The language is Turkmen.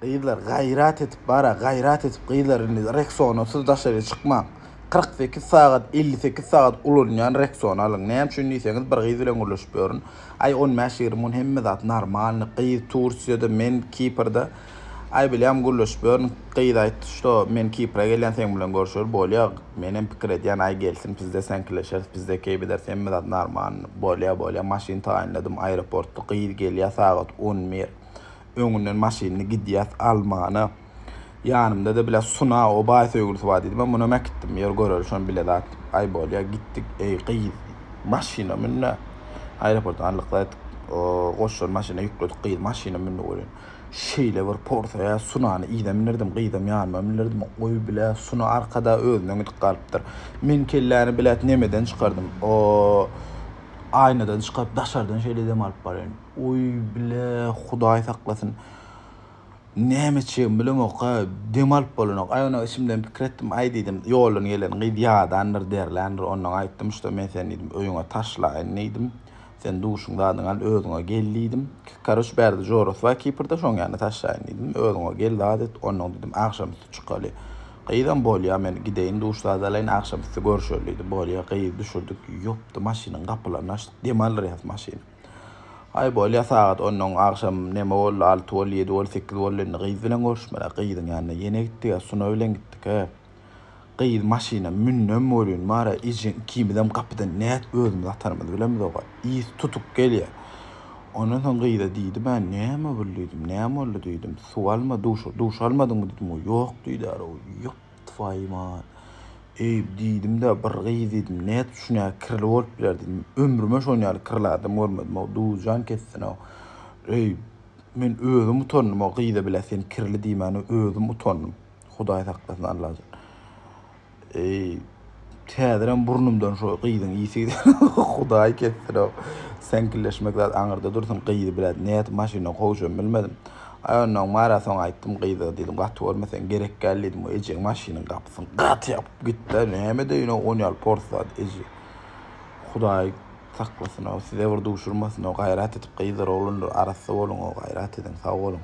Gyzlar gaýrat edip bara gaýrat edip gyzlar indi reksona siz daşary çykmaň. 48 sagat 58 sagat ulanýan reksony alyň. Näme üçin diýseňiz bir gyz bilen gürleşip ýörün. Aý 15 20 gün hemme zat normalny gyz Tursiýada men Kiprda Aý bilýän gürleşip ýörün. Gyz aýtdy şo men Kipra gelýän seň bilen görüşeli bolýa. Menem pikir edýän aý gelsin bizde säňkileşeris bizde keýbederis hemme zat normalny. Bolýa bolýa maşyn taýynladym aýroportda gyz gelýä sagat 11. Öňünden maşynyny gidýäs almana. Ýanymda-da bile Suna obaý söýgülisi bar diýdim. Men munam äkitdim. Ýör göreris şony bile zat diýip. Aý bolýa gitdik. Eý gyz maşyna mün-dä. Aeroportdan aldyk-da goşulan maşyna ýükledik. Gyz maşyna mündi welin, şeýle bir porsaya Sunany yza mindirdim, gyzam ýanyma mindirdim. Goý bile Suna arkada özünden gidip galypdyr. Men kelläni bilet nemeden çykardym. O aýnadan çykaryp daşardan şeýle dem alyp barýan. Oý bile hudaý saklasyn. Näme içjegimi bilemokka, dem alyp bolanok. Aý onag içimden pikir etdim, aý diýdim, ýoldan gelen gyz ýadandyr, derländir, ondan aýtdym, şda men seni diýdim, öýüňe taşlaýyn diýdim. Sen duşuň zadyňy al, özüňe gel diýdim. Karoç bärde jorasy bar Kiprde, şoň ýanyna taşlaýyn diýdim. Özüňe gel zat et, ondan diýdim, agşamüsti çykaly. Gyzam bolýa, men gideýin, duş zady alaýyn, agşamüsti görüşeli diýdi. Bolýa, gyzy düşürdik, ýopdy, maşynyň gapylaryny açdyk, dem aldyrýas maşyny. Aý bolýa sagat ondan agşam neme boldy alty boldy ýedi boldy sekiz boldy indi gyz bilen görüşmeli gyzyň ýanyna ýene gitdiga Suna bilen gitdika gyz maşyna mündem bolýun mara ejeň ikimizem gapydan nät özümiz atarymyzy bilemizok a ys tutuk gelýä ondan soň gyza diýdim a näme bul diýdim näme boldy diýdim suw alma duş duş almadyňmy diýdim o ýok diýdä ýok Twaýyma, eý, diýdim-de, bir gyz diýdim, nädip şuny kirli bolup biler diýdim. Ömrüme şonuň ýaly kirli adam görmedim-ow, duzyjan kesdin-ow. Eý, men özüm utandym o gyza bile sen kirli diýmäne özüm utandym. Hudaý saklasyn Allajan. Eý. Häzirem burnumdan şo gyzyň isi gidiýär. Hudaý kessin-ow. Seňkilleşmek zat aňyrda dursun, gyzy biraz nädip maşyndan kowjam bilmedim. Aý, onnoň bar-a, soň aýtdym gyza, diýdim, gaty görmeseň gerek däl diýdim, o ejeň maşynyň gapysyny gaty ýapyp gitdi-ä, näme deýin-ow, on ýaly pors zat eje. Hudaý saklasyn-ow, size bir duşurmasyn-ow, gaýrat edip gyzlar, oglanlar arassa boluň-ow, gaýrat ediň, sag boluň.